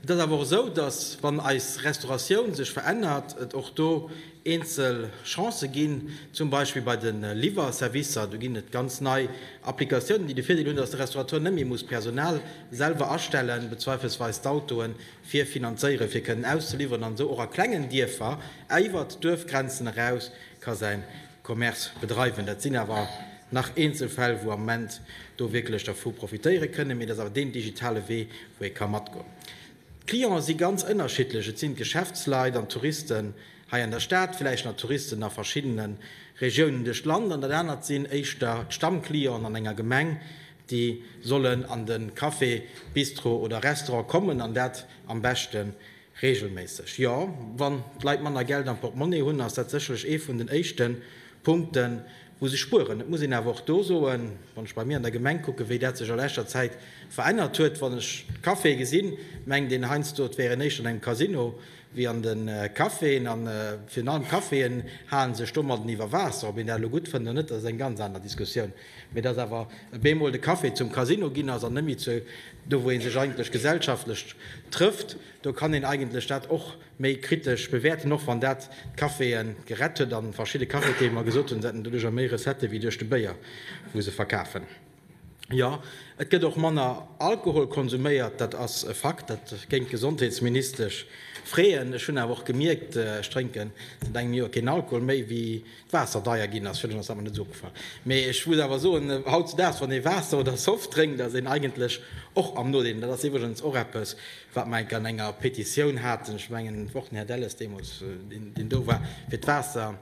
Et ass awer och esou, datt, wann eis Restauratioun sech verännert, et och do eenzel Chancë ginn, zum Beispill bei de Liwwerservicer. Do ginn et ganz nei Applikatiounen, déi de Virdeel hunn, datt de Restaurateur net méi muss Personal selwer astellen, bezweifelsweis d'Autoe fir finanzéieren, fir kënnen auszeliwweren, an esou och a klengen Dierfer, iwwert d'Duerfgrenzen eraus, ka säin Commerce bedreiwen. Dat sinn awer nach eenzel Fäll, wou am Moment do wierklech dervu profitéiere kënnen, mee dat ass awer deen digitale Wee, wou ee ka matgoen. D'Clienten si ganz ënnerschiddlech, et sinn d'Geschäftsleit an d'Touristen hei an der Stad, villäicht nach Touristen a verschiddene Regiounen duerch d'Land, an dat anert sinn éischter d'Stammclienten an enger Gemeng, déi sollen an de Café, Bistro oder Restaurant kommen an dat am beschte Reegelméisseg, jo. Wann d'Leit manner Geld am Portemonnaie hunn, ass dat sécherlech ee vun den éischte Punkten, wou se spueren. Et muss een awer och do soen, wann ech bei mir an der Gemeng kucken, wéi dat sech a leschter Zäit verännert huet, wann ech d'Caféë gesinn, mengt een heiansdo, et wären éischter an engem Casino wéi an de Caféen. A virun allem d'Caféen hale sech domadden iwwer Waasser. Ob een dat elo gutt fënnt oder net, dat ass eng ganz aner Diskussioun. Mee dass awer e bemol de Café zum Casino ginn ass an net méi zu do wou ee sech eigentlech gesellschaftlech trëfft, do kann een eigentlech dat och méi kritesch bewäerten, och wann dat d'Caféë gerett huet a verschidde Cafetiere mer gesot hunn, se hätten doduercher méi Recettë wéi duerch de Béier wou se verkafen. Jo, et gëtt och manner Alkohol konsuméiert, dat ass e Fakt, dat géing d'Gesondheetsministesch freeën. Ech hunn awer och gemierkt, ech drénken säit engem Joer keen Alkohol méi, wéi Waasser deier ginn ass, fir ass awer net esou opgefall. Mee ech muss awer soen, hautzedaags, wann ee Waasser oder Soft drénkt, ass een eigentlech och am Nodeel. An dat ass iwwregens och eppes, wat mer enk an enger Petitioun haten, ech mengen, et war och den Här Delles deemools, deen do war, fir d'Waasser,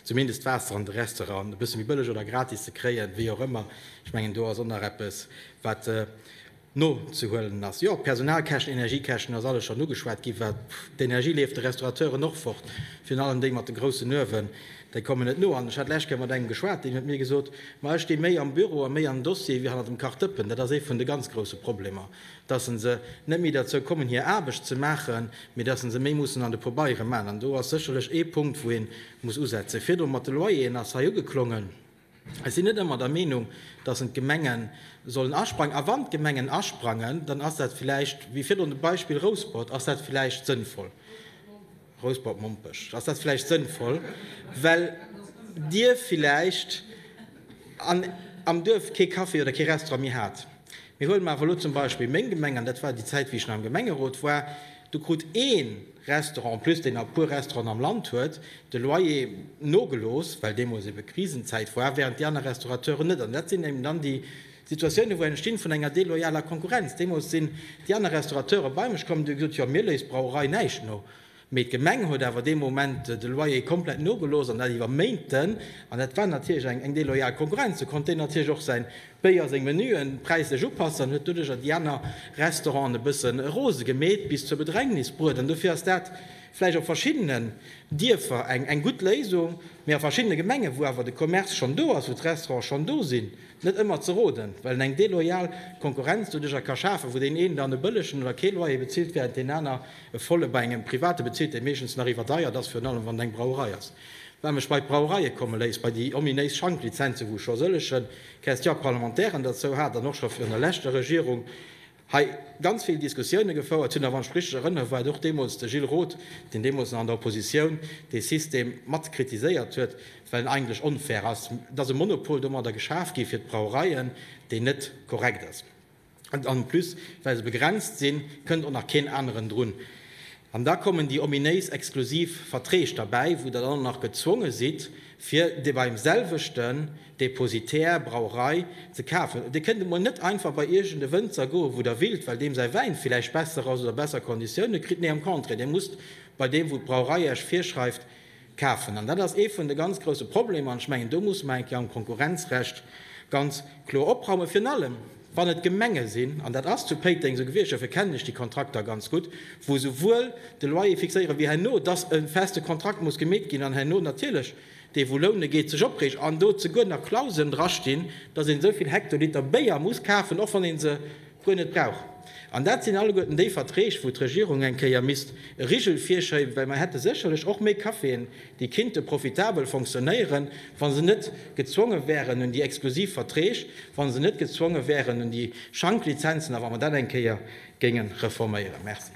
zumindest d'Waasser an de Restauranten, e bësse méi bëlleg oder gratis ze kréien, wéi och ëmmer. Ech mengen, do ass och nach eppes, wat. nozehuelen ass. Jo, Personalkäschten, Energiekäschten, ass alles schonn ugeschwat ginn, well d'Energie leeft de Restaurateuren och fort, virun allem déi mat de groussen Uewen, déi kommen net no. An ech hat d'lescht Kéier mat engem geschwat, deen huet mir gesot, ma ech sti méi am Büro a méi an Dossieren wéi hannert dem Kachdëppen. Dat ass ee vun de ganz grousse Problemer, dass se net méi derzou kommen hir Aarbecht ze maachen, mee dass se méi mussen an de Pobeiere maachen. An do ass sécherlech ee Punkt wou ee muss usetzen. Virdru mat de Loyeren ass hei ugeklongen. Ech sinn net ëmmer der Meenung, dass en d'Gemenge sollen asprangen. A wann d'Gemengen asprangen, dann ass dat villäicht, wéi virdrun de Beispill Rouspert, ass dat villäicht sënnvoll, Rouspert-Mompech, ass dat villäicht sënnvoll, well Dir villäicht an am Duerf kee Café oder kee Restaurant méi hat. Mee huele mer awer elo zum Beispill meng Gemeng, an dat war déi Zäit, wéi ech nach am Gemengerot war, do krut ee, Restaurant, en plus deen a puer Restauranten am Land huet de Loyer nogelooss, well deemools ebe Krisenzäit war, während déi aner Restaurateuren net. An dat sinn eben dann déi Situatiounen, wou entstinn vun enger deloyaler Konkurrenz. Deemools sinn déi aner Restaurateure bei mech komm an hu gesot, jo, mir léisst d'Brauerei näischt no, mee d'Gemeng huet awer dee Moment de Loyer komplett nogelooss an dat iwwer Méinten. An dat war natierlech eng deloyal Konkurrenz. Do konnt deen natierlech och säin Béier seng Menuen präislech upasse an huet doduercher déi aner Restauranten e bësse rose gemeet, bis zur Bedrängnis bruet. An dofir ass dat vläicht op verschiddenen Dierfer eng gutt Léisung, mee a verschiddene Gemengen, wou awer de Commerce schonn do ass, wou d'Restaurante schonn do sinn, net ëmmer ze roden, well en eng deloyal Konkurrenz doduercher ka schafen, wou deen een dann e bëllegen oder kee Loyer bezilt, während deen aner e volle bei engem Private bezilt, dee meeschtens nach iwwerdeiert ass, virun allem wann et eng Brauerei ass. Wat mech bei d'Brauereie komme léisst, bei déi ominéis Schanklizenzen, wou scho sëllegen. Question parlementaire en derzou hat an och scho virun der leschter Regierung hei ganz vill Diskussioune gefouert hunn. A wann ech richtig erënnere war et och deemools de Gilles Roth, deen deemools nach an der Oppositioun dee System mat kritiséiert huet, well en eigentlech onfair ass. Et ass e Monopol domadder geschaf gi fir d'Brauereien, deen net korrekt ass. En plus, well se begrenzt sinn, kënnt och nach keen aneren drun. An da kommen déi ominéis exklusiv Verträg derbäi, wou Der dann och nach gezwonge sidd, fir dee beim selwechten Depositär, Brauerei, ze kafen. Dir kënnt emol net einfach bei iergend e Wënzer goen, wou Der willt, well deem säi Wäin villäicht besser ass oder besser Konditioune kritt. Nee, am Contraire, Dir musst bei deem, wou d'Brauerei Iech virschreift, Kafen. An dat ass ee vun de ganz grouse Problemer. An ech mengen, do musse mer eng Kéier am Konkurrenzrecht ganz kloer opraumen, virun allem wann et Gemenge sinn, an dat ass zu Péiteng esou gewiescht, dofir kennen ech déi Kontrakter ganz gutt, wou esouwuel de Loyer fixéieren, wéi herno, dass e feste Kontrakt muss gemeet ginn an herno natierlech dee wou loune geet, sech opreegt an do zeguer nach Klauseln drastinn, dass een esou vill Hektoliter Béier muss kafen, och wann ee se guer net brauch. An dat sinn alleguerten déi Verträg, wou d'Regierung eng Kéier misst e Rigel virschéiben, well mer hätte sécherlech och méi Caféen, déi kinnte profitabel fonctionnéieren, wa se net gezwonge wären un déi exklusiv Verträg, wa se net gezwonge wären un déi Schanklizenzen a wa mer dat eng Kéier géinge reforméieren. Merci.